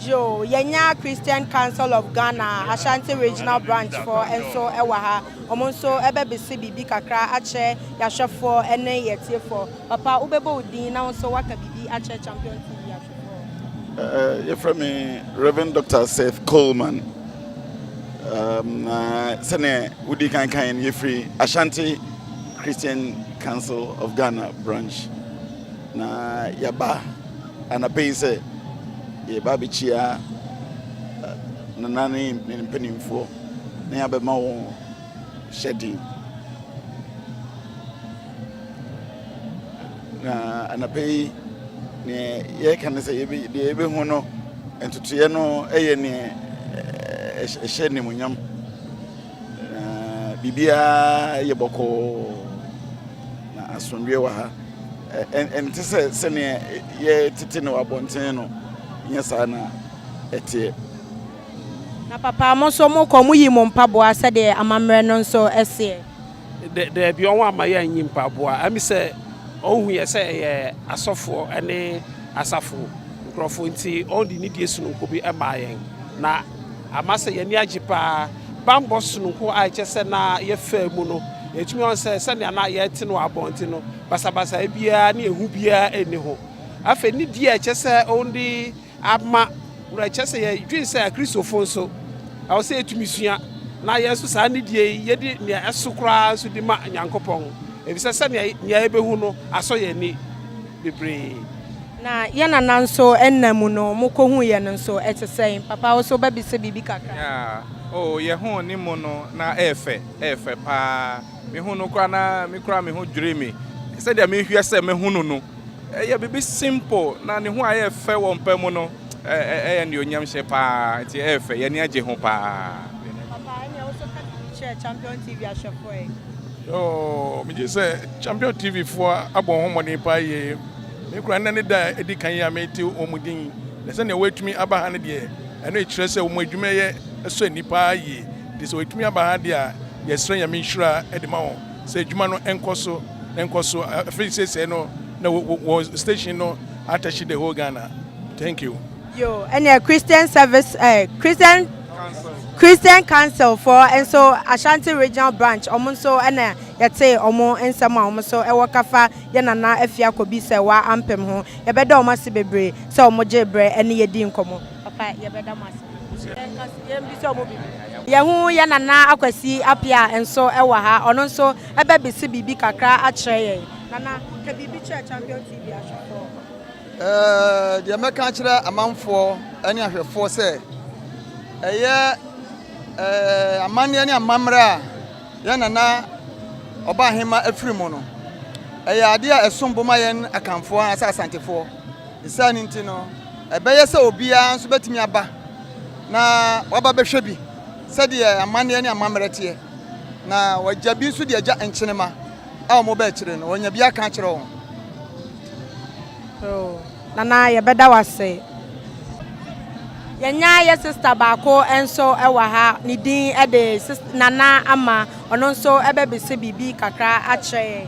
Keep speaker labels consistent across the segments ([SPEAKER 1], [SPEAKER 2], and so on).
[SPEAKER 1] Yoo, yɛnya Christian Council of Ghana Ashanti Regional Branch foɔ nso wɔ ha. Wɔn nso bɛbese biribi kakra akyerɛ yɛahwɛfoɔ ne yɛatiefoɔ. Papa, wobɛbɔ wo din na wo nso woaka biribi akyerɛ Champion TV
[SPEAKER 2] ahwɛfoɔ. Yɛfrɛ me Rev. Doctor Seth Coleman. Na sɛdeɛ wodi kan kan no, yɛfiri Ashanti Christian Council of Ghana Branch. Na yɛaba Anɔpa yi sɛ yɛba abɛkyia nana ne ne mpanimfoɔ na yɛabɛma wɔn hyɛden. Na anɔpa yi neɛ yɛreka ne sɛ deɛ yɛbɛhu no ntotoeɛ no yɛ neɛ ɛhyɛ animuonyam Na biribiara yɛ bɔkɔɔ, na asomdwoeɛ wɔ ha. Ɛnte sɛ sɛdeɛ yɛtete no wɔ abɔnten no, nyɛ saa na ɛteɛ.
[SPEAKER 1] Na papa, mo nso mokɔ, moyi mo mpaboa sɛdeɛ amammerɛ no nso seɛ. Dɛ, dabi,
[SPEAKER 3] ɔho amma yɛ annyi mpaboa. Ami sɛ ohu yɛ sɛ yɛ asɔfoɔ ne asafo nkorɔfoɔ nti ɔde nidie sononko bi maa yɛn, na ama sɛ yɛn ani agye pa ara. Bammɔ sononko a ɛkyerɛ sɛ na yɛfaa mu no, yɛtumi hu sɛ sɛnea na yɛte no wɔ abɔnten no, basabasayɛ biara ne ehu biara nni ho. Afei nidie a ɛkyerɛ sɛ ɔde Ama worɛ kyerɛ sɛ yɛdwen sɛ Kristofo nso, ɛwɔ sɛ yetumi sua, na yɛn nso saa nidi yi, yedi nea ɛso koraa nso di ma Onyankopɔn, efisɛ sɛnea nea yebehu no asɔ yɛn ani bebree. Na
[SPEAKER 1] yɛn nana nso nna mu no, mokohuu yɛn no nso, ɛte sɛn? Papa, wo nso wobɛbisa biribi kakra? Yeah, oh,
[SPEAKER 4] yɛhuu ne mu no, na ɛyɛ fɛ, ɛyɛ fɛ paa. Mehuu no koraa na me koraa me ho dwirii me. Sɛdeɛ mehwɛ sɛ mɛhu no no, ɛyɛ biribi simple na ne ho a ɛyɛ fɛ wɔ mpa mu no, ɛyɛ nnuonyamhyɛ paa nti ɛyɛ fɛ, yɛn ani agye ho paa. Papa, ɛnneɛ wo nso
[SPEAKER 1] ka biribi kyerɛ Champion TV ahwɛfoɔ yi. Yoo,
[SPEAKER 5] megye sɛ Champion TV foɔ abɔ wɔn ho mmɔden paa yie. Me koraa nnɛ ne da a ɛdi kan yi a mete wɔn din, na sɛdeɛ wɔatumi aba ha no deɛ, ɛno kyerɛ sɛ wɔn adwumayɛ sɔ ani paa yie. Nti sɛ wɔtumi aba ha deɛ a, yɛsrɛ Nyame nhyira de ma wɔn sɛ adwuma no nkɔ so na nkɔ so. Afei seesei no na wɔ wɔ wɔn station no atashi the whole Ghana. Thank you. Yoo, ɛneɛ
[SPEAKER 1] Christian service eh, Christian Christian Council foɔ nso Ashanti Regional Branch wɔn nso na yɛtee wɔn nsɛm a wɔn nso wɔ ka fa yɛn Nana Afia Kobi sɛ wa ampem ho. Yɛbɛda wɔn ase bebree sɛ wɔn gyee berɛ ne yɛ dii nkɔmmɔ. Papa yɛbɛda mo ase nso yɛn nka so yɛn bisa ɔmo bibi. Yɛ ho yɛ nana akwasi apia nso ɛwɔ ha ɔno nso ɛbɛ bise biribi kakra akyerɛ yɛn nana ka biribi kyerɛ champion TV ahwɛfoɔ. Ɛɛɛ
[SPEAKER 6] deɛ mɛka akyerɛ amanfoɔ ɛne ahwɛfoɔ sɛ ɛyɛ ɛɛɛ amanneɛ ne amammerɛ a yɛn nana ɔbaa hema afiri mu no ɛyɛ adeɛ a ɛsom bo ma yɛn akanfoɔ anaasɛ asantefoɔ. Ne saa no nti no, ɛbɛyɛ sɛ obiara nso bɛtumi aba na waba bɛhwɛ bi sɛdeɛ amanneɛ ne amammerɛ teɛ, na wɔagya bi nso de agya nkyenema a wɔba akyire no, wɔanya bi aka akyerɛ wɔn. Oh,
[SPEAKER 1] Nana, yɛbɛda wo ase. Yɛnya yɛ sista baako nso wɔ ha, ne din de Nana Ama, ɔno nso bɛbisa biribi kakra akyerɛ yɛn.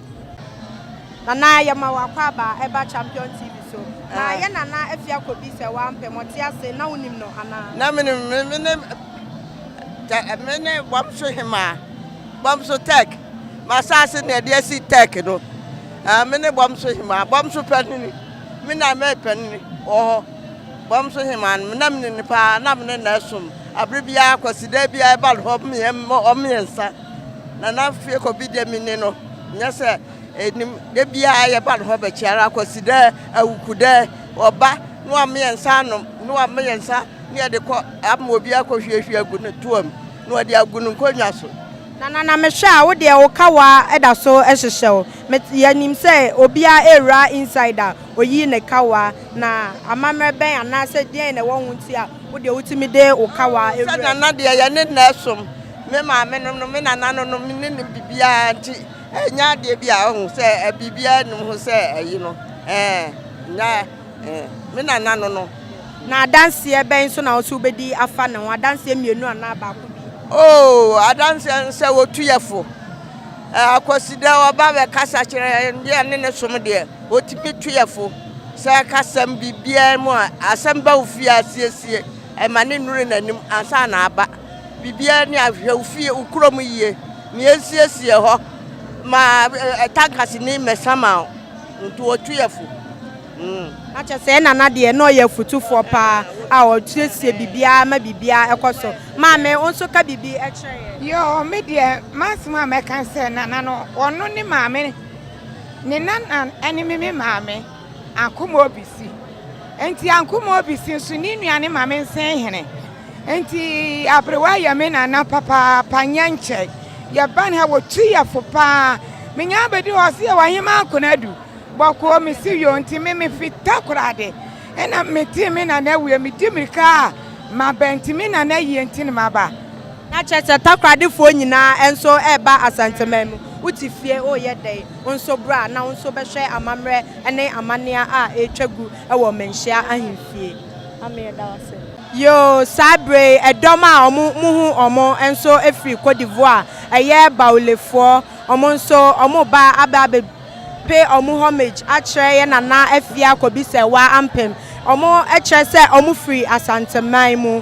[SPEAKER 1] Nana yɛma wo akwaaba a ɛba Champion TV so na yɛ Nana Afia Kobi sɛ woampɛ ma ɔte ase na wonim no anaa? Na menim no, me ne
[SPEAKER 7] tɛ me ne Bɔmso Hemaa, Bɔmso Tech, m'asaase na ɛde asi Tech no. Ah, me ne Bɔmso Hemaa, Bɔmso panini, me na me panini wɔ hɔ. Bɔmso Hemaa no, na menim no paa, na me ne na ɛsom. Abere biara, Kwasida biara ɛba no hɔ, ɔmo mmiɛnsa. Nana fie kɔ bi dɛ me ne no nyɛ sɛ enim dɛ biara yɛ ba no hɔ bɛkye ara kwasi dɛ awuku dɛ ɔba na ɔama yɛn nsa anom na ɔama yɛn nsa na yɛde kɔ ama obi akɔ hwie hwie agu ne toa mu na ɔde agu ne nkonnwa so. Nana na me hwɛ
[SPEAKER 1] a wo deɛ wo kawa da so hyehyɛ wo me yɛ nim sɛ obiara ɛwura inside a oyi ne kawa na amammerɛ bɛn anaa sɛ deɛn na ɛwɔ ho nti a Wo deɛ wotumi de wo kawa wura mu. Sɛ nana deɛ yɛne
[SPEAKER 7] na ɛsom. Me maame nom nom me nana nom nom ne nim bibiara nti ɛnyɛ adeɛ bi a ɔho sɛ bibiara nim ho sɛ ayi no ɛɛ na me nana no no. Na adanseɛ
[SPEAKER 1] bɛn nso na ɔso wobɛdi afa ne ho adanseɛ mmienu anaa baako bi. Oo
[SPEAKER 7] adanseɛ no sɛ ɔtu yɛ fo. Akwasidɛ ɔba bɛkasa kyerɛ yɛn deɛ yɛne ne som deɛ. Otumi tu yɛ fo sɛ kasam biribiara mu a asɛm ba wo fie a, siesie ma no nnuru n'anim ansa na aba. Biribiara ni a, hwɛ wo fie, wo kurom yie. Nea esiesie hɔ ma tankasini mmɛsa ma wo nti, otu yɛ fo. Mm. Na
[SPEAKER 1] kyerɛ sɛ Nana deɛ na ɔyɛ afutufoɔ paa a ɔsiesie biribiara ma biribiara kɔ so. Maame, wo nso ka biribi kyerɛ yɛn. Yoo, me deɛ
[SPEAKER 8] m'asɛm a mɛka ne sɛ Nana no, ɔno ne maame. Ne nana ne me me maame Ankomoa Obisi. Nti Ankomoa Obisi nso ne nua ne maame Nsenhene. Nti Aberewa yɛ me nana papaapa nyɛ nkyɛ. Yɛba ne ha wɔtu yɛ fo paa. Menya abɛdi hɔ sɛ yɛwɔ ahema akonadu bɔkɔɔ mesi yo nti me mefita korade. Ɛna metee me nana awie medi mirika a maba nti me nana yie nti ne maba. Na kyerɛ sɛ
[SPEAKER 1] takoradefoɔ nyinaa nso reba Asanteman mu. Wo te fie, woreyɛ dɛn? Wo nso bra na wo nso bɛhwɛ amammerɛ ne amanneɛ a ɛretwa gu wɔ Manhyia Ahemfie. Ame, yɛda wo ase. Yoo, saa berɛ yi, ɛdɔm a wɔn mo hu wɔn nso firi Côte d'Ivoire, ɛyɛ Baoulé-foɔ, wɔn nso wɔreba aba abɛ pay wɔn homage akyerɛ yɛn Nana Afia Kobisɛwaa Ampem. Wɔn kyerɛ sɛ wɔn firi Asanteman mu.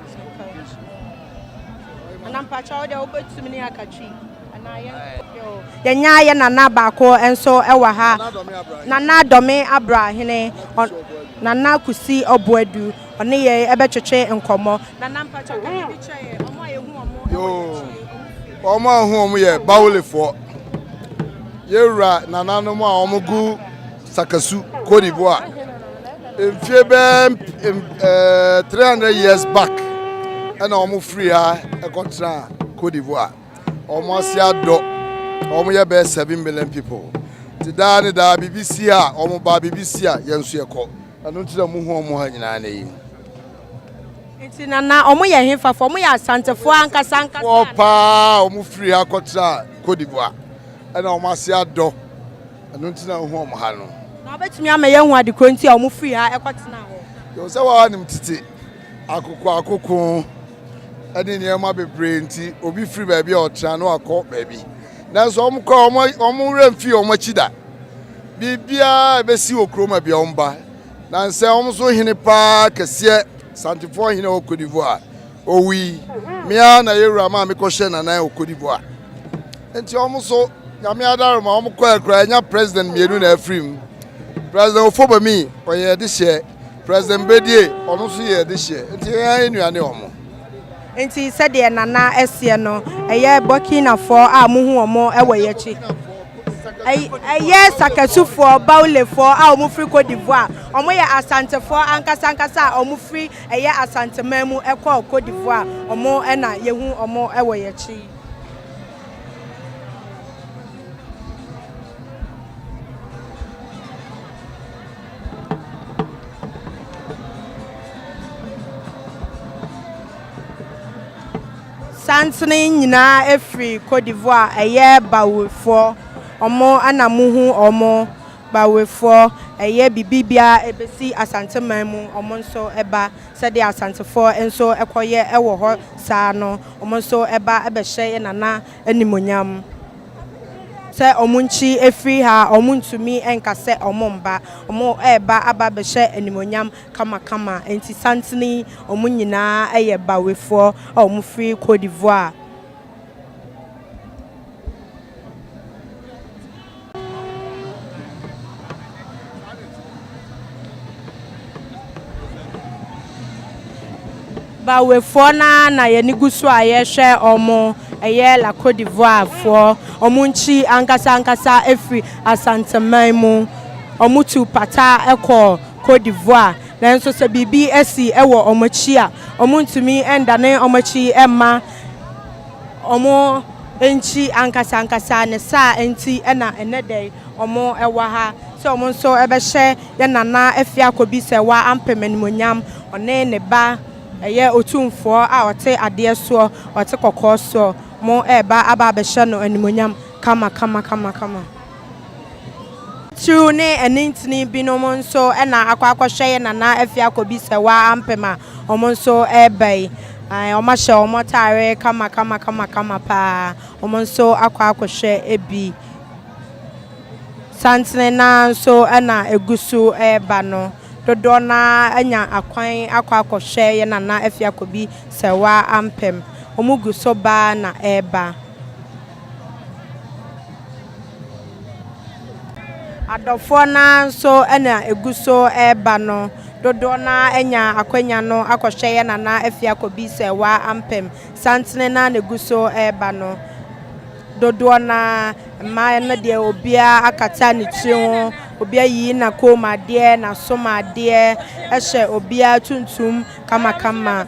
[SPEAKER 1] Yɛanya yɛn nana baako nso wɔ ha, Nana Dɔme Abrahene, Nana Kusi Ɔboadu, ɔne yɛn bɛtwetwe nkɔmmɔ. Nana mpakyɛw ka biribi kyerɛ yɛn, wɔn a yɛhu wɔn
[SPEAKER 6] wɔ akyire. Wɔn a yɛhu wɔn yɛ Bawulefoɔ, yɛn wura nananom a wɔgu. Sakasu, Côte d'Ivoire. Mfie bɛɛ ɛɛ 300 years back ɛna wɔn firi ha ɛkɔtena Côte d'Ivoire. Wɔn ase adɔ. Wɔn yɛ bɛɛ seven million people. Ti daa ne daa biribi si a wɔn ba biribi si a yɛn nso yɛkɔ. Ɛno nti na muhu wɔn ha nyinaa na yi.
[SPEAKER 1] Nti na na wɔn yɛ hefafoɔ? Wɔn yɛ Asantefoɔ ankasa ankasa. Foɔ paa
[SPEAKER 6] wɔn firi ha kɔtena Côte d'Ivoire ɛna wɔn ase adɔ. Ɛno nti na wohu wɔn ha no. Na wobɛtumi ama yɛahu
[SPEAKER 1] ade korɔ nti a wɔfirii ha kɔtenaa hɔ. Yɛhu sɛ wɔn a wɔnim
[SPEAKER 6] tete akokoakoko ne nneɛma bebree nti, obi firi baabi a ɔtena na wakɔ baabi. Nanso wɔn kɔ a, wɔn werɛ mfii wɔn akyi da. Biribiara a ɛbɛsi wɔ kurom a bia wɔn ba. Na nsɛ wɔn so hene paa kɛseɛ, Santefoɔ hene wɔ Cote d'Ivoire, owui. Me ara na yɛwura maa mekɔhyɛɛ n'anan wɔ Cote d'Ivoire. Nti ɔmo so Nyame adare ma ɔmo kɔɛ koraa anya president mmienu na afiri mu. President Ofobami ɔyɛ adehyeɛ, President Bedie ɔno nso yɛ adehyeɛ nti yɛn ara yɛ nua ne ɔmo. Nti
[SPEAKER 1] sɛdeɛ Nana seɛ no ɛyɛ Burkinafoɔ a mohu ɔmo wɔ yɛn akyi. Ɛyɛ Sakasufoɔ, Baulefoɔ a ɔmo firi Côte d'Ivoire. Ɔmo yɛ Asantefoɔ ankasa ankasa a ɔmo firi ɛyɛ Asanteman mu kɔɔ Côte d'Ivoire. Ɔmo na yɛhu ɔmo wɔ yɛn akyi yi. Santene nyinaa firi Côte d'Ivoire ɛyɛ bawefoɔ ɔmo ɛna mo hu ɔmo bawefoɔ ɛyɛ bibi bia ɛbɛsi Asante man mu ɔmo nso ɛba sɛdeɛ asantefoɔ nso ɛkɔ yɛ ɛwɔ hɔ saa no. Wɔn nso ba bɛhyɛ yɛn Nana animuonyam. Sɛ wɔn nkyi firi ha a, wɔn ntumi nka sɛ wɔn mba. Wɔn ba aba abɛhyɛ animuonyam kamakama. Nti santene yi, wɔn nyinaa yɛ Bawefoɔ a wɔfiri Cote d'Ivoire. Bawefoɔ no ara na yɛn ani gu so a yɛrehwɛ wɔn. Ɛyɛ La Côte d'Ivoirefoɔ. Wɔn nkyi ankasa ankasa firi Asanteman mu. Wɔtu pata kɔ Côte d'Ivoire. Nanso sɛ biribi si wɔ wɔn akyi a, wɔntumi nnane wɔn akyi mma. Wɔn nkyi ankasa ankasa ne saa nti na nnɛ da yi wɔwɔ ha sɛ wɔn nso bɛhyɛ yɛn Nana Afiakobi sɛ wa ampem animuonyam, ɔne ne ba ɛyɛ Otumfoɔ a ɔte adeɛ soɔ, ɔte kɔkɔɔ soɔ, wɔn ɛreba aba abɛhyɛ no animuonyam kama kama kama kama. Tiriw ne ɛne ntini binom nso na akɔ akɔhwɛ yɛ nana afie akɔbi sɛ waa ampem a wɔn nso reba yi. Ae, wɔn ahyɛ wɔn ataare kama kama kama kama paa. Wɔn nso akɔ akɔhwɛ bi. Santene no ara nso na ɛgu so reba no. Dodoɔ no ara anya akwan akɔ akɔhwɛ yɛ nana afie akɔbi sɛ waa ampem. Wɔgu so ba ara na ɛreba. Adɔfoɔ no ara nso na ɛgu so reba no, dodoɔ no ara anya akwanya no akɔhwɛ yɛn Nana Afia Kobi sɛ waa ampem. Santene no ara na ɛgu so reba no, dodoɔ no ara, mmaa no deɛ obiara akata ne tiri ho, obiara ayiyi n'akɔnmuadeɛ, n'asomadeɛ, ɛhyɛ obiara tuntum kamakama.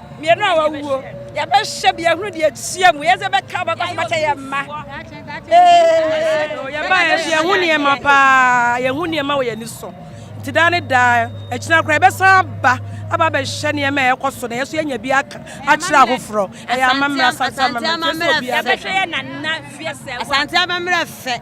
[SPEAKER 9] Mmienu a wɔawuo, yɛbɛhyɛ bia hunu deɛ ɛteɛ mu, yɛsɛ bɛka bɛkɔ so bɛkyɛ yɛn mma.
[SPEAKER 10] Yɛn mma yɛn nso yɛhu nneɛma paa, yɛhu nneɛma wɔ yɛn ani so. Nti daa ne daa, akyina koraa yɛbɛsan aba aba abɛhwɛ nneɛma a ɛkɔ so na yɛn nso yɛanya bi aka akyerɛ ahoforɔ. Ɛyɛ amammerɛ, asante amammerɛ, nti ɛsɛ obiara bɛhwɛ.
[SPEAKER 9] Asante amammerɛ fɛ.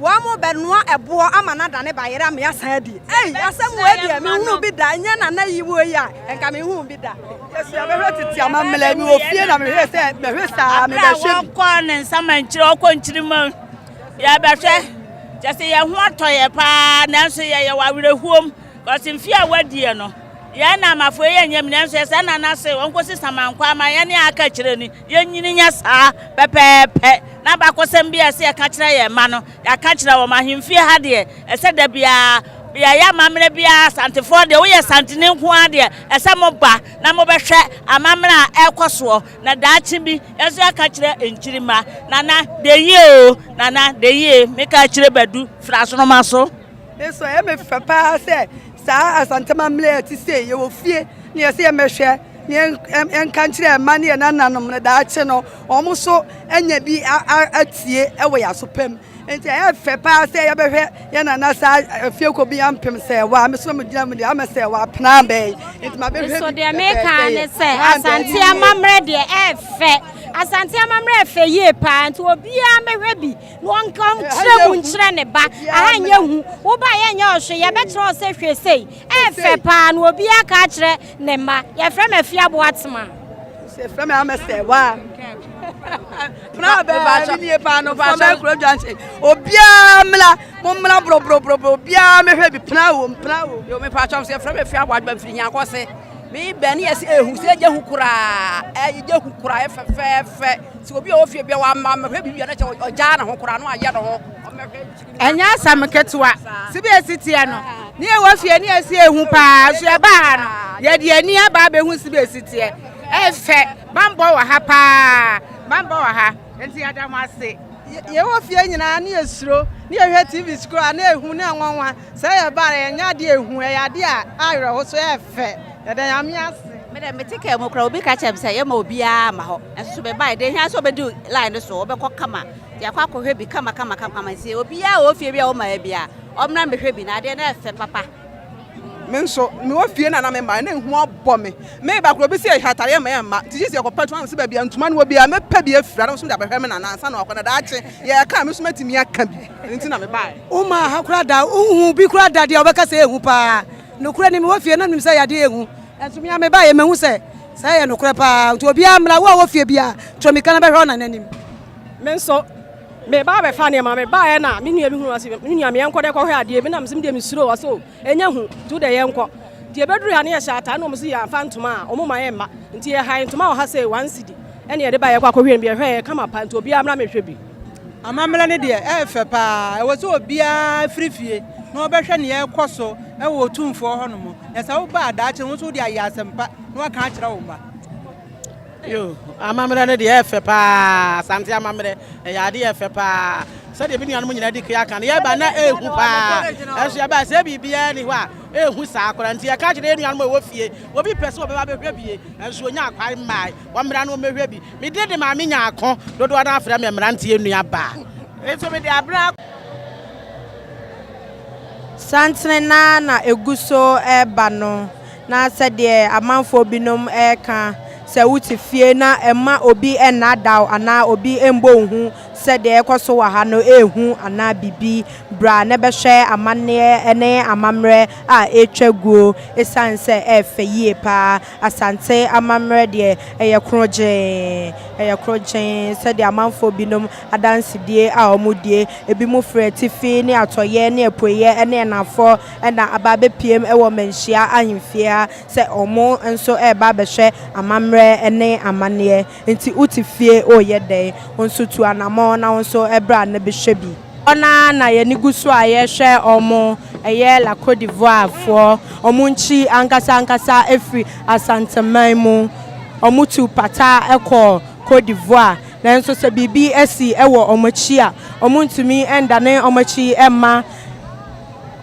[SPEAKER 11] Wɔn bɛ noa ɛboɔ ama no adane bayerɛ ama yɛasan adi. Ei, asɛm wei deɛ menhunuu bi da, ɛnyɛ nana yi wɔ yi a, ɛnka menhuu bi da. Yesu a bɛhwɛ tete amammerɛ, mewɔ fie na mehwɛ sɛ bɛhwɛ saa, mebɛhwɛ bi. Abere a wɔkɔ ne nsa ma
[SPEAKER 9] nkyiri, ɔkɔ nkyiri ma yɛbɛhwɛ. Kyɛ sɛ yɛn ho atɔ yɛ paa, nanso yɛyɛ wɔ awerɛhuom, kɔsi mfe a wɔadie no. Yɛn na amafoe yɛ nyɛ mu nanso yɛ sɛ na na se wɔn kɔsi samankwa ama yɛn ne aka kyerɛ ni yɛn nyini nyɛ saa pɛpɛɛpɛ na bakɔsɛm bi a ɛsɛ yɛka kyerɛ yɛn mma no yɛaka kyerɛ wɔn ahemfie ha deɛ ɛsɛ da biara yɛyɛ amammerɛ biara asantefoɔ deɛ woyɛ santene nko ara deɛ ɛsɛ mo ba na mobɛhwɛ amammerɛ a ɛrekɔ soɔ na daakye bi ɛso yɛaka kyerɛ nkyirimma nana dayie o nana dayie meka kyerɛ badu firi asoroma so Nso ɛyɛ me
[SPEAKER 11] fɛ paa sɛ saa asantama mmerɛ a ɛte sei yɛwɔ fie na yɛsɛ yɛmmɛhwɛ na yɛnka nkyerɛ mma ne yɛn nananom no daakye no wɔn so anya bi atie wɔ yɛn asopam nti ɛyɛ fɛ paa sɛ yɛbɛhwɛ yɛn nana saa afie kɔ bi ampem sɛ ɛwɔ a mesoro mu gyina mu deɛ ama sɛ ɛwɔ apena abɛn nti ma bɛhwɛ nso deɛ meka ne
[SPEAKER 12] sɛ asante amammerɛ deɛ ɛyɛ fɛ asante amammerɛ ɛfɛ yie paa nti obiara mɛhwɛ bi Wɔnkyerɛ mu nkyerɛ ne ba. Aha nyɛ hu. Wo ba yɛ nyɛ ɔhwe. Yɛbɛkyerɛ wo sɛ hwɛ sei. Ɛyɛ fɛ paa na obiara ka akyerɛ ne mma. Yɛfrɛ me Afia Boatema. Yɛfrɛ
[SPEAKER 11] me Ahmed
[SPEAKER 12] Sɛwa. Pra bɛɛ
[SPEAKER 13] me nie paa no fa bɛɛ kuro dwanse. Obiara mmra mo mmra borɔborɔborɔ obiara mehwɛ bi pra wom pra wom. Yo me paa kyɛm sɛ yɛfrɛ me Afia Boatema firi Nyankɔse. Me bɛ ne yɛsi ehu sɛ egya hu koraa ɛyɛ gya hu koraa yɛ fɛfɛɛfɛ sɛ obi a ɔwɔ fie bia wama mɛhwɛ biribi a na kyɛ ɔgyaa ne ho koraa no ayɛ ne ho ɛnyɛ
[SPEAKER 8] asɛm ketewa sɛ bi esi teɛ no ne ɛwɔ fie ne yɛsi ehu paa nso ɛba ha no yɛde ani aba abɛhu si bi esi teɛ ɛfɛ bambɔ wɔ ha paa bambɔ wɔ ha nti yɛda mo ase yɛwɔ fie
[SPEAKER 13] nyinaa ne yɛsuro ne yɛhwɛ tv koraa ne ehu ne anwanwa Sɛ yɛ ba a ɛnyɛ adeɛ ɛhu ɛyɛ adeɛ a awerɛho so ɛyɛ fɛ yɛda nyame ase. Me dɛ mete car mu
[SPEAKER 14] koraa obi ka kyerɛ me sɛ yɛma obiara mma hɔ nanso so mebaeɛ deɛ ɛhia sɛ wobɛdi line no so wobɛkɔ kama de akɔ akɔhwɛ bi kama kama kama nti obiara wɔ ofie bi a womaeɛ biara ɔmmra mmɛhwɛ bi na adeɛ no ɛfɛ papa. Me
[SPEAKER 13] nso mewɔ fie na na me mmaeɛ na ehu abɔ me meba koraa obi sɛ yɛhwɛ atadeɛ mma yɛmma nti gye sɛ yɛkɔpɛ ntoma na ɔsɛ baabi a ntoma no wɔ biara mɛpɛ bi afira na ɔsɛ mede abɛhwɛ me nana ansa na wakɔ na daakye yɛka a me nso mɛtumi aka bi. Ɛno nti na mebaeɛ. Wommaa ha koraa da,
[SPEAKER 11] wonhuu bi koraa da deɛ wɔbɛka sɛ ɛyɛ hu paa. Nokorɛ ni, mewɔ fie na menim sɛ yadeɛ yɛ hu. Nanso me ara mebaeɛ, mahu sɛ saa yɛ nokorɛ paa. Nti obiara mmra, wo a wowɔ fie biara, to mmirika na bɛhwɛ Onana anim. Me nso,
[SPEAKER 10] mereba abɛfa nneɛma. Mebaeɛ na me nua bi hunuu, ɔse, me nua, me yɛnkɔ dɛ kɔhwɛ adeɛ bi. Na mese, medeɛ mesuro. Ɔse, o, ɛnyɛ hu, nti wo deɛ yɛnkɔ. Nti yɛbɛdurui ha na yɛhyɛɛ ataa na wɔn se yɛamfa ntoma a, wɔmma yɛmma. Nti yɛhae ntoma wɔ ha sei, one cedi, ɛne yɛde baeɛ, yɛkɔ akɔhwɛ no bi, ɛhɔɛ, ɛyɛ kama pa, nti obiara mmra mehwɛ bi. Amammerɛ no
[SPEAKER 13] deɛ ɛyɛ fɛ pa ara, ɛwɔ sɛ obiara firi fie na ɔbɛhwɛ nea ɛrekɔ so wɔ Otumfoɔ hɔ nom, na sɛ woba a daakye no wo nso wode ayɛ asɛmpa na woaka akyerɛ wo mma. Yo,
[SPEAKER 15] amammerɛ no deɛ ɛyɛ fɛ pa ara, Asante amammerɛ, ɛyɛ adeɛ ɛyɛ fɛ pa ara. Sɛdeɛ me nuanom nyinaa di kan aka no, yɛba na ɛyɛ hu pa ara, nanso yɛba a sɛ biribiara nni hɔ a, ɛyɛ hu saa koraa. Nti yɛka kyerɛ yɛn nuanom a wɔwɔ fie, obi pɛ sɛ ɔbɛba abɛhwɛ bie, nanso ɔnyaa kwan mmaeɛ. Wɔmmra na wɔmmɛhwɛ bi. Mede de Maame Nyarko dodoɔ no ara frɛ me mmeranteɛ nuabaa. Nso mede aberɛ.
[SPEAKER 1] Santene no ara na ɛgu so reba no, na sɛdeɛ amanfoɔ binom reka, sɛ wote fie na mma obi nnaadaa wo anaa obi mmɔ wo hu sɛ deɛ ɛrekɔ so wɔ ha no yɛ hu anaa biribi. Bra na bɛhwɛ amanneɛ ne amammerɛ a ɛretwa guo, ɛsiane sɛ ɛyɛ fɛ yie pa ara. Asante amammerɛ deɛ, ɛyɛ krɔgyee, ɛyɛ krɔgyee, sɛdeɛ amanfoɔ binom adansedie a wɔdie, ebinom firi atifi ne atɔeɛ ne apueeɛ ne anafoɔ na aba abɛpuem wɔ Manhyia ahemfie ha sɛ wɔn nso reba abɛhwɛ amammerɛ ne amanneɛ. Nti wote fie reyɛ dɛn? Wo nso tu anammɔn na wo nso bra na bɛhwɛ bi. Hɔ no ara na yɛn ani gu so a yɛrehwɛ wɔn, ɛyɛ La Côte d'Ivoirefoɔ, wɔn nkyi ankasa ankasa firi Asanteman mu, wɔtu pata kɔ Côte d'Ivoire, nanso sɛ biribi si wɔ wɔn akyi a, wɔntumi nnane wɔn akyi mma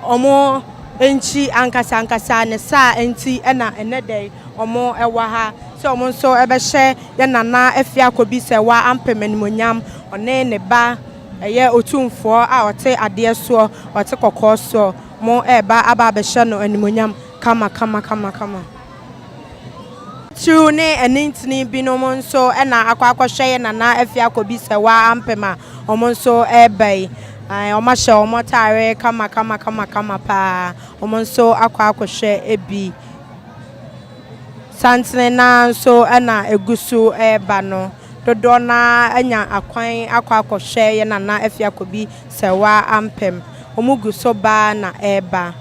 [SPEAKER 1] wɔn nkyi ankasa ankasa, ne saa nti na ɛnnɛ da yi wɔwɔ ha sɛ wɔn nso bɛhyɛ yɛn Nana Afia Kobisɛwa Ampem animuonyam, ɔne ne ba. Ɛyɛ Otumfoɔ a ɔte adeɛ soɔ, ɔte kɔkɔɔ soɔ, mo reba aba abɛhyɛ no animuonyam kama kama kama kama. Titiriw ne anintini binom nso na akɔ akɔhwɛ yɛn Nana Afia Kobi Sɛwa Ampem a wɔn nso reba yi. Ae, wɔahyɛ wɔn ataare kama kama kama kama pa ara. Wɔn nso akɔ akɔhwɛ bi. Santene no ara nso na ɛgu so reba no. dodoɔ no ara anya akwan akɔ akɔhwɛ yɛn Nana Afiakobi Sɛwa Ampem. Wɔn gu so ba na ɛreba.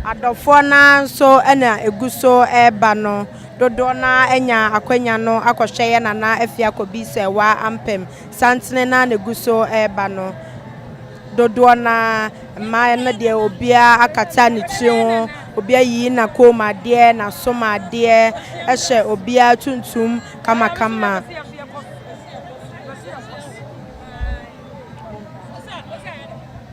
[SPEAKER 1] Adɔfoɔ no ara nso na ɛgu so reba no dodoɔ no ara anya akwanya no akɔhwɛ yɛn Nana Afiakobi Sɛwa Ampem. Santene no ara na ɛgu so reba no, dodoɔ no ara, mmaa no deɛ obiara akata ne tiri ho, obi ayiyi n'akɔn mu adeɛ, n'asom adeɛ, ɛhyɛ obiara tuntum kamakama.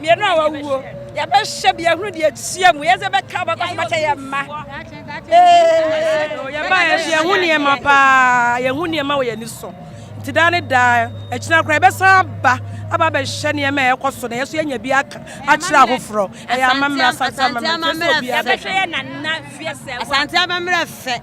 [SPEAKER 8] Mmienu a wɔawuo, yɛbɛhyɛ bi ahunu deɛ ɛtua mu, yɛdze bɛka bɛkɔ so bɛkyɛ yɛn mma.
[SPEAKER 10] Yɛba yɛ nso yɛhu nneɛma paa, yɛhu nneɛma wɔ yɛn ani so. Nti daa ne daa, akyina koraa yɛbɛsan aba aba abɛhwɛ nneɛma a ɛkɔ so na yɛn nso yɛanya bi aka akyerɛ ahoforɔ. Ɛyɛ amammerɛ, Asante amammerɛ, kyerɛ sɛ obiara bɛhwɛ.
[SPEAKER 12] Asante amammerɛ fɛ.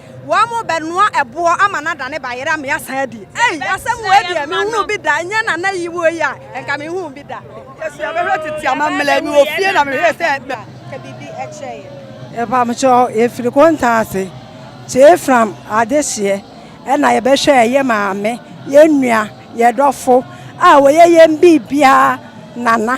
[SPEAKER 12] Wɔn bɛ noa ɛboɔ ama no adane bayerɛ ama yɛasan adi. Ei, asɛm wei deɛ menhunuu bi da, ɛnyɛ nana yi wɔ yi a, nka menhuu bi da. Yesu yɛbɛhwɛ tete amammerɛ, mewɔ fie na mehwɛ sɛ ɛba. Ka biribi kyerɛ yɛn.
[SPEAKER 11] Mpamokyɛ yɛfiri konta ase kyee from adehyeɛ ɛna yɛbɛhwɛɛ yɛ maame yɛn nua yɛdɔfo a wɔyɛ yɛn biribiara nana.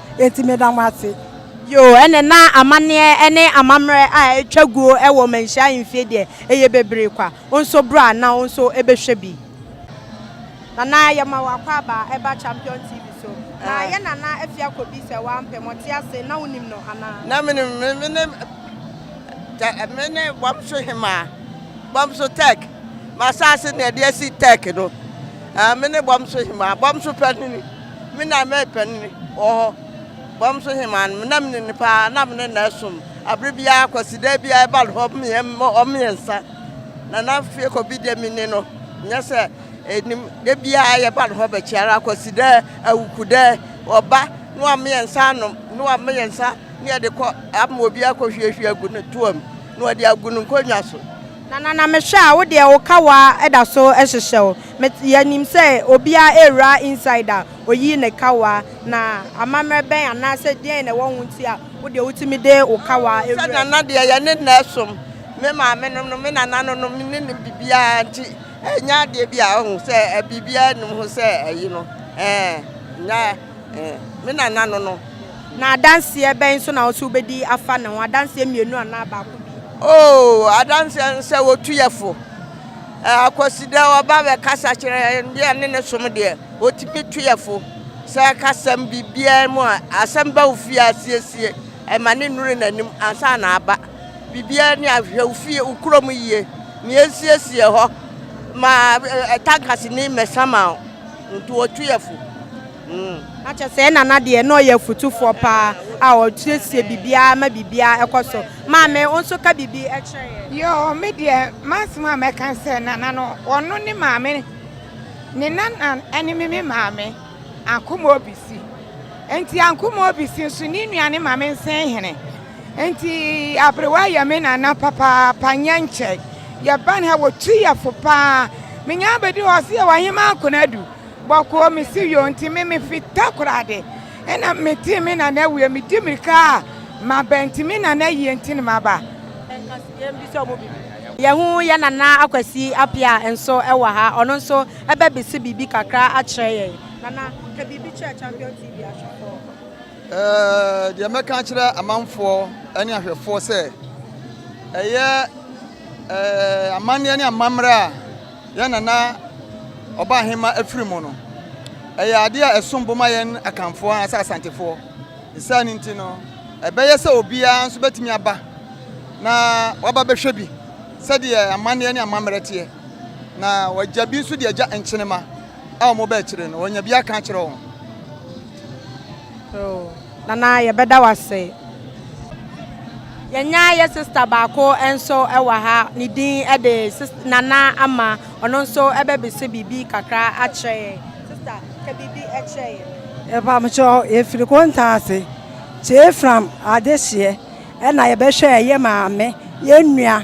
[SPEAKER 11] Enti meda mo ase. Bio, ɛnɛ na
[SPEAKER 1] amanneɛ ne amammerɛ a ɛtwa guo wɔ manhyia ahemfie deɛ, ɛyɛ bebree kwa. Wo nso bra na wo nso bɛhwɛ bi. Nana yɛma wo akwaaba ɛba champion TV so na yɛ nana afia kɔbi sɛ woampɛ mɔte ase na wonim no anaa. Na menim me mene
[SPEAKER 7] tɛ mene bɔmso hemaa bɔmso tɛk masase ne ɛde asi tɛk no mene bɔmso hemaa bɔmso panini. Me na mepɛ no wɔ hɔ. Bam so hemmaa no, me na menim no paa, na me ne no ɛsom abere biara, Kwasida biara ɛba no hɔ ɔmo mmiɛnsa, Nana Fiekɔbi deɛ me ni no nyɛ sɛ ɛnim, da biara yɛba no hɔ bɛkyɛ ara, Kwasida, Awukuda, ɔba ne wɔn mmiɛnsa anom ne wɔn mmiɛnsa ne yɛde kɔ ama obi akɔ hwie hwie agu ne toa mu na ɔde agu ne nkonnwa so. Nanana mehwɛ
[SPEAKER 1] a wo deɛ wo kawa da so hyehyɛ wo me yɛnim sɛ obia rewura inside a oyi ne kawa na amamerɛ bɛn anaa sɛ deɛn na ɛwɔ ho nti a wo deɛ wotumi de wo kawa wura mu. Sɛ nana deɛ yɛne nna
[SPEAKER 7] ɛsom me maame nom no me nana no nom ne nom biribiara nti ɛnyɛ adeɛ bi a wohu sɛ biribiara nnim ho sɛ ayi no ɛɛ. Me nana no no. Na adanseɛ
[SPEAKER 1] bɛn nso na wo se wobɛdi afa ne ho? Adanseɛ mmienu anaa baako bi? Oo,
[SPEAKER 7] adanseɛ no sɛ wɔtu yɛ fo. Akwasidɛ ɔba bɛkasa kyerɛ yɛn deɛ ne ne som deɛ, wɔtumi tu yɛ fo. Sɛ ɛkasɛm biribiara mu a, asɛm ba wo fie asiesie, ɛma ne nnuru n'anim ansa na aba. Biribiara ni a, hwɛ wo fie, wo kurom yie, nea ɛsiesie hɔ ma tankasini mmɛsa ma wo. Nti ɔtwe yɛ fo. Na
[SPEAKER 1] kyerɛ sɛ yɛn nana deɛ na ɔyɛ afutufoɔ paa a ɔsiesie biribiara ma biribiara kɔ so. Maame wo nso ka biribi kyerɛ yɛn. Yoo me deɛ
[SPEAKER 8] m'asem a mɛka sɛ nana no ɔno ne maame ne nana ɛne me me maame Ankomo Obisi nti Ankomo Obisi nso ne nua ne maame Nsenhene. Enti aberewa yɛ me nana papaapa, nyɛ nkyɛ. Yɛba no ha, wɔtu yɛ fo pa ara. Menya abɛdu hɔ, ɔse yɛwɔ Ahemaa Konadu, bɔkɔɔ. Mese yoo, nti me mefi Takoradi. Ɛna metee me nana awu yi, medi mmirika a maba, nti me nana yie nti na maba. Yɛmmisa ɔmo biribi.
[SPEAKER 1] Yɛahu yɛn nana Akwasi Apeaa nso wɔ ha, ɔno nso bɛbese biribi kakra akyerɛ yɛn. Nana, ka biribi kyerɛ Champion TV ahwɛfoɔ.
[SPEAKER 6] Deɛ mɛka akyerɛ amanfoɔ ne ahwɛfoɔ sɛ ɛyɛ amanneɛ ne amammerɛ a yɛn nana ɔbahema afiri mu no ɛyɛ adeɛ a ɛsom bo ma yɛn akanfoɔ anaasɛ asantefoɔ saa no nti no ɛbɛyɛ sɛ obiara nso bɛtumi aba na waba bɛhwɛ bi sɛdeɛ amanneɛ ne amammerɛ teɛ na wɔagya bi nso deɛ agya nkyenema a wɔbɛkyerɛ no wɔnya bi aka akyerɛ wɔn Oh,
[SPEAKER 1] Nana, yɛbɛda wo ase. Yɛnya yɛ sista baako nso wɔ ha, ne din de Nana Ama. Ɔno nso ɛbɛbisa biribi kakra akyerɛ yɛn. Sista, ka biribi kyerɛ yɛn. Ɛpamkyɛ
[SPEAKER 11] yɛfiri konta ase, kyee fram adehyeɛ ɛna yɛbɛhwɛ yɛ maame, yɛn nua.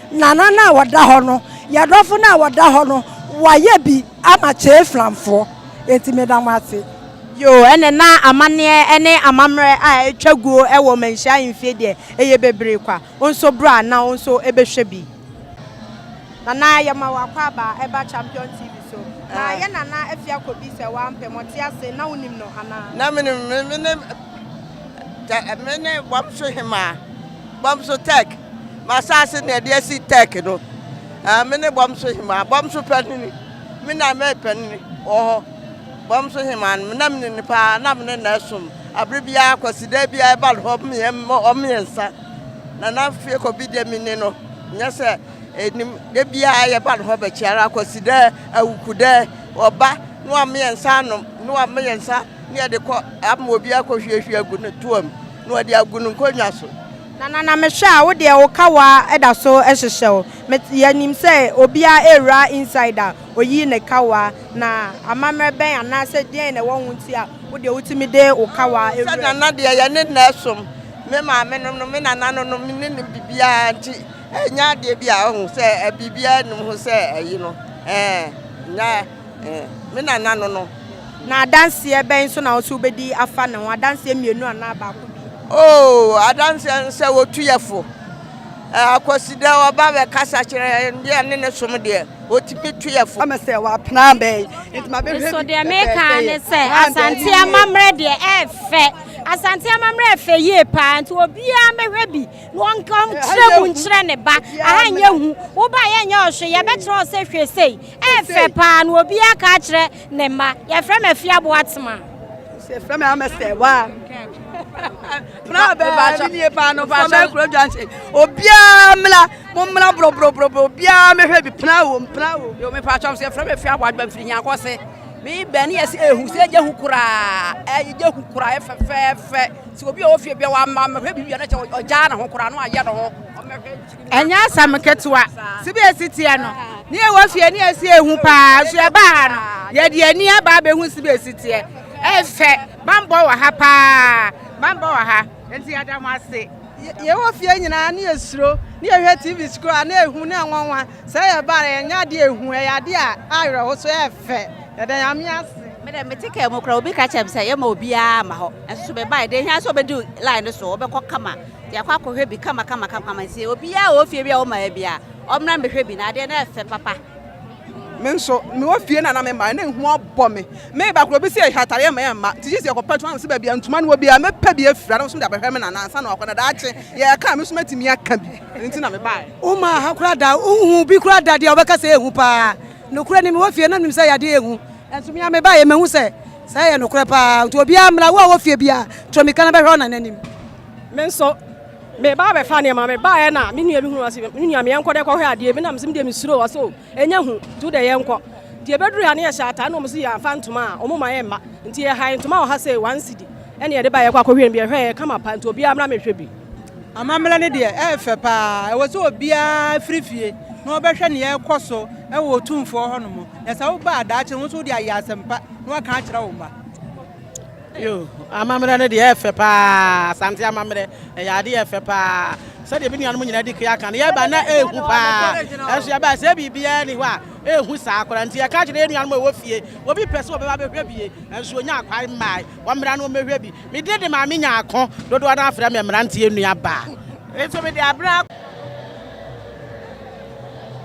[SPEAKER 11] Nana no a wɔda hɔ no, yɛn dɔfo no a wɔda hɔ no, wɔayɛ bi ama Kyei Flamfoɔ. Enti meda mo ase. Yoo, ɛne
[SPEAKER 1] na amaneɛ ne amammerɛ a ɛtwa guo wɔ manhyia ahemfie deɛ, ɛyɛ bebree kwa. Wo nso bra na wo nso bɛhwɛ bi. Nana yɛma wo akwaaba ɛba Champion TV so. Na yɛ Nana Afiakɔ bi sɛ woampɛ, mɔte ase, na wonim no anaa? Na menim no,
[SPEAKER 7] mene, mene Bɔmso Hemaa, Bɔmso Tech. M'asaase na yɛde asi Tɛk no. Me ne bɔm so hemaa, bɔm so panini, me na mɛyɛ panini wɔ hɔ. Bɔm so hemaa no, na me ne no paa, na me ne no som. Abere biara Kwasida biara ɛba no hɔ mmiɛnsa, Nana Fiekɔbi deɛ me ne no nyɛ sɛ ɛnim. Da biara yɛba no hɔ bɛkyɛ ara, Kwasida, Awukuda, ɔba na wama yɛn nsa anom, na wama yɛn nsa na yɛde kɔ ama obi akɔhwiehwie agu ne toa mu na ɔde agu ne nkonnwa so. Nana na me hwɛ
[SPEAKER 1] a wo deɛ wo kawa da so hyehyɛ wo me yɛ nim sɛ obia ɛwura inside a oyi ne kawa na amamerɛ bɛn anaa sɛ deɛn na ɛwɔ ho nti a wo deɛ wo tumi de wo kawa ɛwura mu. Sɛ nana deɛ yɛ ne nna
[SPEAKER 7] ɛsom me maame nom no me nana no nom ne nim bibiaa nti ɛnyɛ adeɛ bi a ɔhu sɛ biribiaa nim ho sɛ ayi no ɛɛ nyɛ. Me nana no no. Na adanseɛ
[SPEAKER 1] bɛn so na wo se wobɛdi afa ne ho? Adanseɛ mmienu anaa baako bi? Oo,
[SPEAKER 7] adanseɛ no sɛ wɔtu yɛ fo. Akwasidɛ ɔba bɛkasa kyerɛ yɛn deɛ ne ne som deɛ, wɔtumi tu yɛ fo. Ama sɛ wɔapena abɛn, nti ma
[SPEAKER 6] bɛhwɛ bi. Nso deɛ meka
[SPEAKER 12] ne sɛ Asante amammerɛ deɛ ɛɛfɛ. Asante amammerɛ ɛfɛ yie paa, nti obiara mmɛhwɛ bi na ɔnkyerɛ mu nkyerɛ ne ba. Aha nyɛ hu, wobaeɛ nyɛ ɔhwe, yɛbɛkyerɛ wo sɛ hwɛ sei. Ɛyɛ fɛ paa na obiara ka akyerɛ ne mma. Yɛfrɛ me Afia Boatema. Yɛfrɛ me
[SPEAKER 6] Amɛsɛ wa. Obiara mmra mo mmra borɔborɔborɔborɔ obiara mehwɛ bi pena wom pena wom. Yo mepɛ atwam sɛ
[SPEAKER 13] yɛfrɛ me Afia Boatema mfiri nyankɔ se. Me bɛn ne yɛsɛ ehu sɛ gye ho koraa ɛgye ho koraa ɛfɛfɛɛfɛ sɛ obi a ɔwɔ fie bia wamma mehwɛ biribi a na kyɛ ɔgyaa ne ho koraa na wayɛ ne ho ɔmɛhwɛ Ɛnyɛ
[SPEAKER 10] asɛm ketewa. Sɛbi esi teɛ no, ne yɛwɔ fie ne yɛsi ehu paa. So yɛbaa ha no, yɛde ani aba abɛhu sɛbi esi teɛ. Ɛfɛ, bambɔ wɔ ha paa. Bambɔ wɔ ha. Nti yɛda mo ase. Yɛwɔ fie
[SPEAKER 11] nyinaa ne yɛsuro, ne yɛhwɛ TV so koraa ne ehu ne nwanwa. Sɛ yɛbaa no, ɛnyɛ ade a ehu, ɛyɛ ade a awerɛho so ɛfɛ. Yɛda Nyame ase. Me dɛ mete car mu
[SPEAKER 14] koraa obi ka kyerɛ me sɛ yɛma obiara ma hɔ. Nso so mebae, deɛ ehia sɛ obedi line no so, ɔbɛkɔ kama. Yɛakɔ akɔhwɛ bi kamakama kamakama nti obiara a ɔwɔ fie bi a wɔmmaeɛ biara, ɔmmra mmɛhwɛ bi na adeɛ no ɛfɛ papa. Me nso,
[SPEAKER 13] mewɔ fie no a na memmaeɛ na ehu abɔ me. Mereba koraa obi se yɛhwɛ atadeɛ mma yɛmma nti gye sɛ yɛkɔpɛ ntoma na mesɛ baabi a ntoma no wɔ biara mɛpɛ bi afira na wɔsom de abɛhwɛ me nana ansa na wakɔ na daakye yɛreka a me nso mɛtumi aka bi. Ɛno nti na mebaeɛ. Wommaa ha koraa da,
[SPEAKER 10] wonhuu obi koraa da deɛ wɔbɛka sɛ ehu paa. Nokorɛ ni mewɔ fie na menim sɛ yadeɛ ehu nanso me ara mebaeɛ mahu sɛ saa yɛ nokorɛ paa nti obiara mmra, wo a wɔ fie biara to mmirika na bɛhwɛ wo nana anim. Me nso me ba bɛ fa nneɛma me ba yɛ na me nua bi hunu ɔsi me nua me yɛn kɔ dɛ kɔhwɛ adeɛ bi na me sɛ me deɛ me suro ɔsi o ɛnyɛ hu nti wo dɛ yɛn kɔ nti ebeduru ha ne yɛ hyɛ ataa na wɔn si yɛ afa ntoma a wɔn ma yɛ mma nti yɛ ha ntoma wɔ ha sɛ wɔn si di ɛna yɛde ba yɛ kɔ akɔhwɛ no bi ɛhwɛ yɛ kama pa nti obiara mra mehwɛ bi. Amammerɛ no
[SPEAKER 15] deɛ ɛyɛ fɛ paa ɛwɔ sɛ obiara firi fie na ɔbɛhwɛ ne yɛrekɔ so ɛwɔ otumfoɔ hɔnom na sɛ woba adaakye no wo nso wode ayɛ asɛmpa na waka akyerɛ wo mma. Yo, amammerɛ no deɛ ɛyɛ fɛ paa, Asante amammerɛ, ɛyɛ adeɛ ɛyɛ fɛ paa, sɛdeɛ me nuanom nyinaa di kea ka no, yɛba na ɛhu paa, ɛnso yɛba sɛ biribiara nni hɔ a, ɛhu saa koraa, nti yɛka kyerɛ yɛn nuanom a ɛwɔ fie, obi pɛ sɛ ɔbɛba bɛhwɛ bie, ɛnso ɔnyaa kwan mmae, wɔmmra na wɔmmɛhwɛ bi, me deɛ de maa me nya ako, dodoɔ no ara frɛ me mmeranteɛ nuabaa, nso me de abrɛ ako.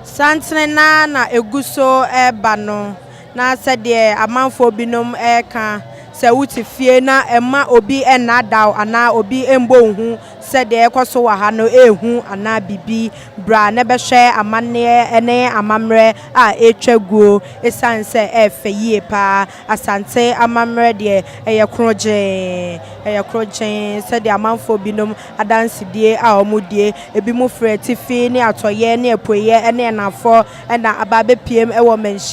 [SPEAKER 1] Santene no ara na ɛgu so reba no. Na sɛdeɛ amanfoɔ binom reka sɛ wote fie na mma obi nnaadaa wo anaa obi mmɔ wo hu sɛ deɛ ɛrekɔ so wɔ ha no yɛ hu anaa biribi, bra na bɛhwɛ amanneɛ ne amammerɛ a ɛretwa guo ɛsiane sɛ ɛyɛ fɛ yie pa ara. Asante amammerɛ deɛ, ɛyɛ krogyenn, ɛyɛ krogyenn sɛdeɛ amanfoɔ binom adansedie a wɔdie. Ebinom firi atifi ne atɔeɛ ne apueɛ ne anafoɔ na aba abɛpuem wɔ mmanhyi.